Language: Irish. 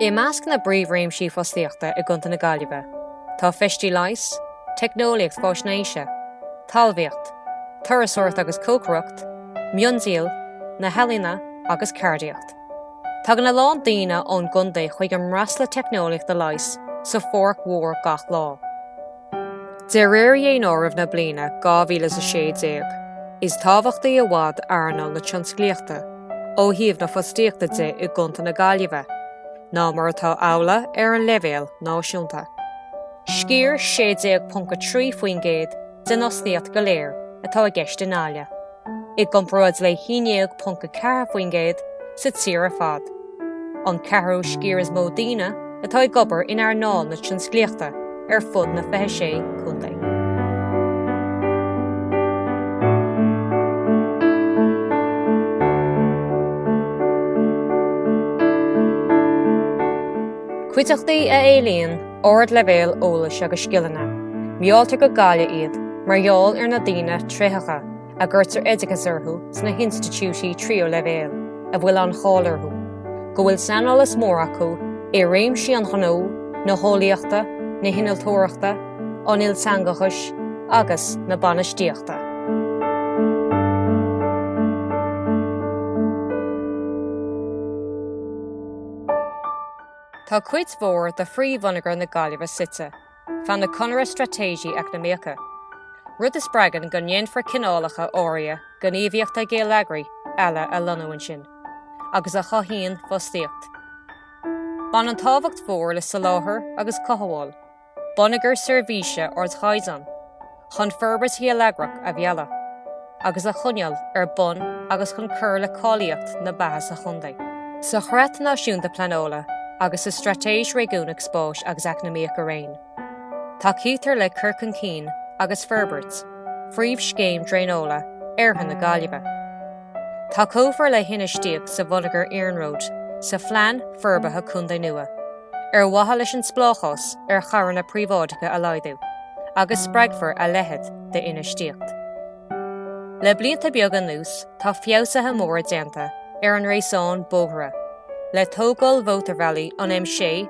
I measc na bpríomhréimsí fostaíochta i gContae na Gaillimhe tá feistí leighis, teicneolaíocht faisnéise, talmhaíocht, turasóireacht agus cócaireacht, miondíol, na healaíona agus ceardaíocht. Tagann a lán daoine ón gcontae chuig an mBraisle Teicneolaíochta Leighis sa Pháirc Mhór gach lá. De réir Dhaonáireamh na bliana 2016, is tábhachtaí i bhfad earnáil na tionsclaíochta, ó thaobh na fostaíochta de i gContae na Gaillimhe, ná mar atá amhlaidh ar an leibhéal náisiúnta. Sciar 16.3% den fhostaíocht go léir atá i gceist i nGaillimh. i gcomparáid le 11.4% sa tír ar fad, an ceathrú sciar is mó daoine atá ag obair in earnáil na tionsclaíochta ar fud na 26 Chontae. Cuideachtaí a éilíonn ardleibhéal eolais agus scileanna, mealltar go Gaillimh iad mar gheall ar na daoine tréitheacha a gcuirtear oideachas orthu sna hinstitiúidí tríú leibhéal a bhfuil an cháil orthu go bhfuil saineolas mór acu i réimsí an ghnó, na heolaíochta, na hinnealtóireachta, an ilteangachais agus na bainistíochta. Tá cuid mhór de phríomhbhonneagar na Gaillimhe suite feadh na conaire straitéisí eacnamaíocha, rud a spreagann go ndéanfar cineálacha áirithe gníomhaíochta geilleagraí eile a lonnú ansin, agus a chothaíonn fostaíocht. Baineann tábhacht mhór le soláthar agus cothabháil bonneagar seirbhíse ardchaighdeáin chun forbairt gheilleagrach a mhealladh agus a choinneáil ar bun agus chun cur le cáilíocht na beatha sa Chontae. Sa Chreat Náisiúnta Pleanála agus sa Straitéis Réigiúnach Spáis agus Eacnamaíoch araon, tacaítear le cur chun cinn agus forbairt phríomhscéim draenála oirthear na Gaillimhe. Tacófar le hinfheistíocht sa bhonneagar iarnróid sa Phlean Forbartha Contae nua ar mhaithe leis an spleáchás ar charranna príobháideacha a laghdú agus spreagfar a leithéid d'infheistíocht. Le blianta beaga anuas tá feabhsuithe móra déanta ar an ngréasán bóithre, le tógáil mhótarbhealaí an M6,